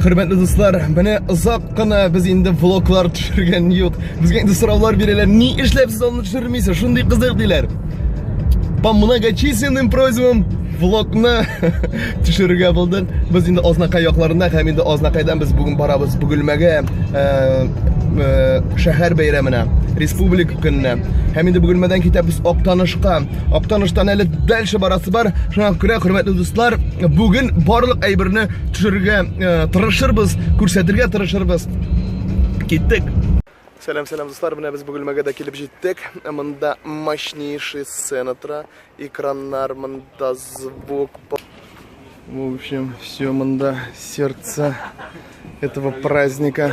Хөрмәтле дуслар, менә озак кына без инде влоглар төшергән юк. Безгә инде сораулар бирәләр, ни эшләп сез аны төшермисез? Шундый кызык диләр. По многочисленным просьбам влогны төшерергә булдык. Без инде Азнакай якларында һәм инде Азнакайдан без бүген барабыз Бөгелмәгә шәһәр бәйрәменә, республик көненә. Һәм инде Бөгелмәдән китәбез Актанышка. Актаныштан әле дальше барасы бар. Шуңа күрә, хөрмәтле дуслар, Бүген барлык әйберне төшерергә э, тырышырбыз, күрсәтергә тырышырбыз. Киттек. Сәлам, сәлам, дуслар. Менә без Бөгелмәгә дә килеп җиттек. Монда мощнейший сцена тора. Экраннар, монда звук. В общем, все монда сердце этого праздника.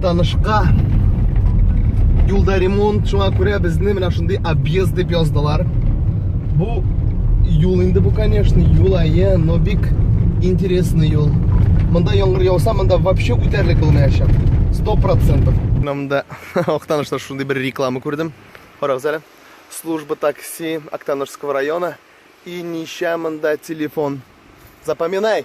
танышка юлда ремонт шуңа күрә безне менә шундый объезд дип яздылар бу юл инде бу конечно юл әйе но бик интересный юл монда яңгыр яуса монда вообще үтәрлек булмаячак сто процентов мында актанышта шундый бер реклама күрдем карагыз әле служба такси актанышского района и ничә монда телефон запоминай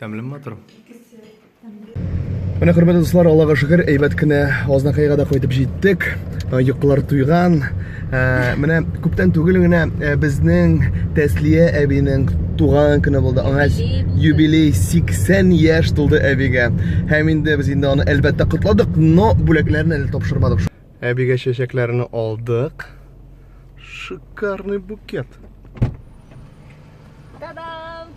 Тәмле матур. Менә хөрмәтле дуслар, Аллага шөкер, әйбәт кенә Азнакайга да кайтып җиттек. Э, йокылар туйган. Э, менә күптән түгел генә э, безнең Тәслия әбинең туган көне булды. Аңа юбилей 80 яшь тулды әбигә. Һәм инде без инде аны әлбәттә котладык, но бүләкләрне әле тапшырмадык. Әбигә чәчәкләрне алдык. Шикарный букет. Та-дам!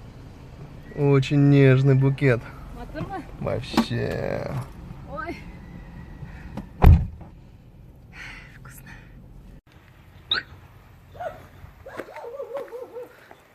Очень нежный букет. Матурмы? Вообще. Ой. Вкусно.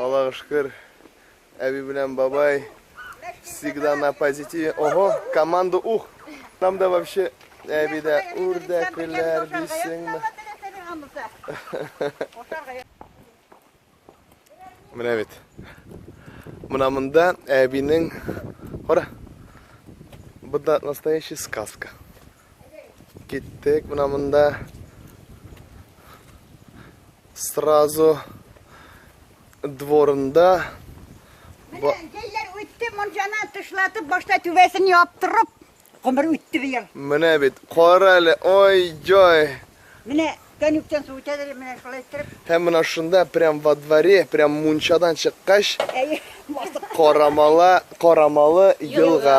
Аллага шөкер, әби белән бабай всегда на позитиве. Ого, команда ух! Там да вообще әби дә үрдәкләр дисеңме? Менә бит. Менә монда әбинең... Кара! Бында настоящая сказка. Киттек, менә монда сразу дворында Менә җәйләр үтте, мунчаны тышлатып, башта түбәсен яптырып, гомер үтте быел. Менә бит, кара әле, ой, җай. Менә тәнүктән су үтә дә менә шулай иттереп. Һәм менә шунда прям во дворе, прям мунчадан чыккач, Әйе, басып. Карамала, Карамалы елга.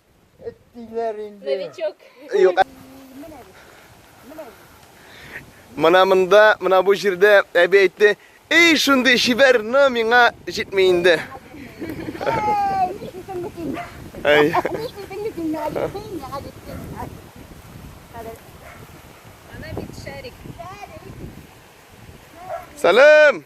Эт диләр инде. Новичок. Юк. Мына монда, мына бу җирдә әби әйтте, "Эй, шундый чибәр, но миңа җитми инде." Ай. Салам!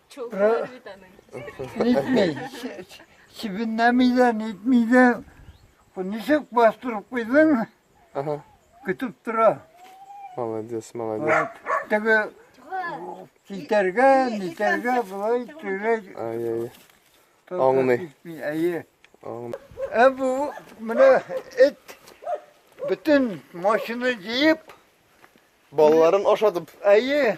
Чулпылар бит аның. Нитмей. Чебеннәми дә, нитми дә. Ничек бастырып куйдың? Ага. Көтеп тора. Молодец, молодец. Теге китәргә, нитәргә былай тирәк. Ай, ай. Аңлый. Әйе. Ә бу менә эт бөтен машина җыеп, балаларын ашатып. Әйе.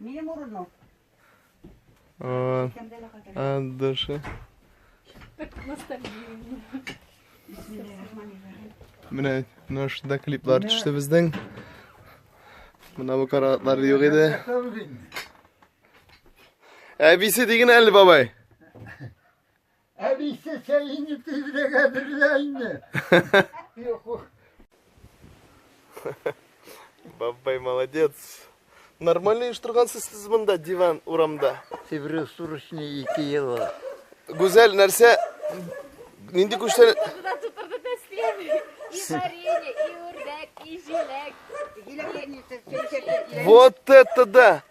Минем урыным. Aa, aa, dışı. Менә менә шунда клиплар төште безнең. Менә бу каратлар юк иде. Әбисе диген әле бабай. Әбисе сәйне тизлеге әзерлә инде. Бабай молодец. Нормально еш торгансыз сез монда диван урамда. Сибрю сурышны 2 ел. Гүзәл нәрсә нинди күчтән Туда тутырды тәслим. И варенье, и үрдәк, и җиләк. Вот это да.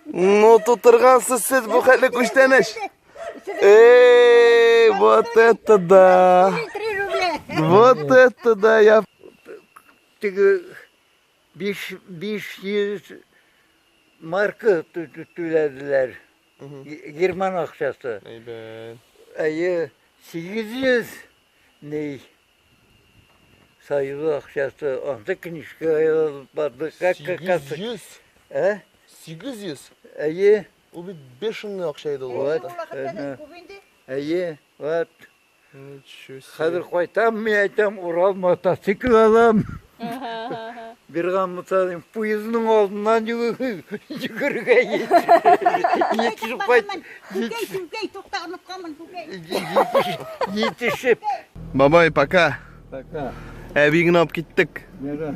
Ну тутыргансыз сез бу хәтле күчтәнәч. Эй, вот это да! Вот это да! Я... Теге биш, биш йөз марка түләделәр. Герман акчасы. Әйбәт. Әйе, сигез йөз ней. Союз акчасы. Анда книжка язылып барды. Сигез йөз? Ә? Сигез йөз? Әйе. Ул бит бешеный акча иде ул вакытта. Вакытта күп инде. Әйе, вот. Ничего себе. Хәзер кайтам, мин әйтәм, Урал мотоцикл алам. Бирган мотоцикл, поездның алдыннан йөгергә җитешеп кайт. Күкәй, күкәй, тукталып калмын, күкәй. Җитешеп. Бабай, пока. Пока. Әби генә алып киттек. Нәгә.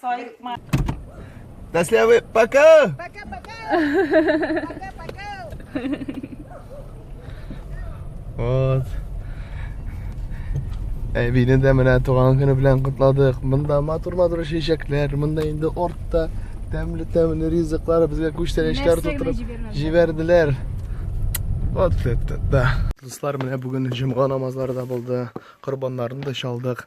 Саикма. До слявы. Пока! Пока-пока! Пока-пока! Вот. Әбине дә менә туган көне белән котладык. Монда матур-матур чәчәкләр, монда инде ортта тәмле-тәмле ризыклар безгә күчтәнәчләр тутырып җибәрделәр. Вот это, да. Дуслар, менә бүген җомга намазлары да булды. Корбаннарны да чалдык.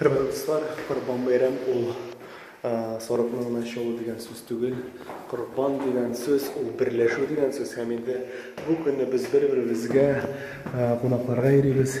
Хөрмәтле дуслар, Корбан бәйрәм ул сарыкның гына чалу дигән сүз түгел. Корбан дигән сүз ул берләшү дигән сүз һәм инде бу көнне без бер-беребезгә кунакларга йөрибез.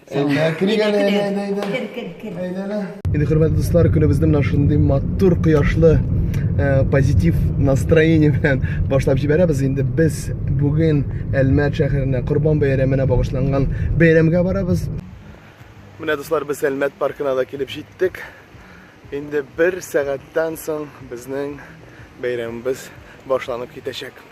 Инде хөрмәтле дуслар, көнебезне менә шундый матур кояшлы э, позитив настроение белән башлап җибәрәбез. Инде без бүген Әлмәт шәһәренә Корбан бәйрәменә багышланган бәйрәмгә барабыз. Менә дуслар, без Әлмәт паркына да килеп җиттек. Инде бер сәгатьтән соң безнең бәйрәмебез башланып китәчәк.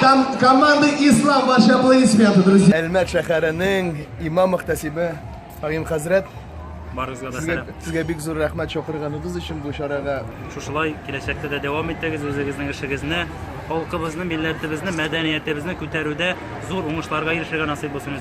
Там команды Ислам, ваши аплодисменты, друзья. Әлмәт шәһәренең имам мөхтәсибе Агим хәзрәт барыгызга да сәлам сезгә бик зур рәхмәт чакырганыгыз өчен бу чарага шушылай киләчәктә дә дәвам итегез үзегезнең эшегезне халкыбызны милләтебезне мәдәниятебезне күтәрүдә зур уңышларга ирешергә насыйп булсын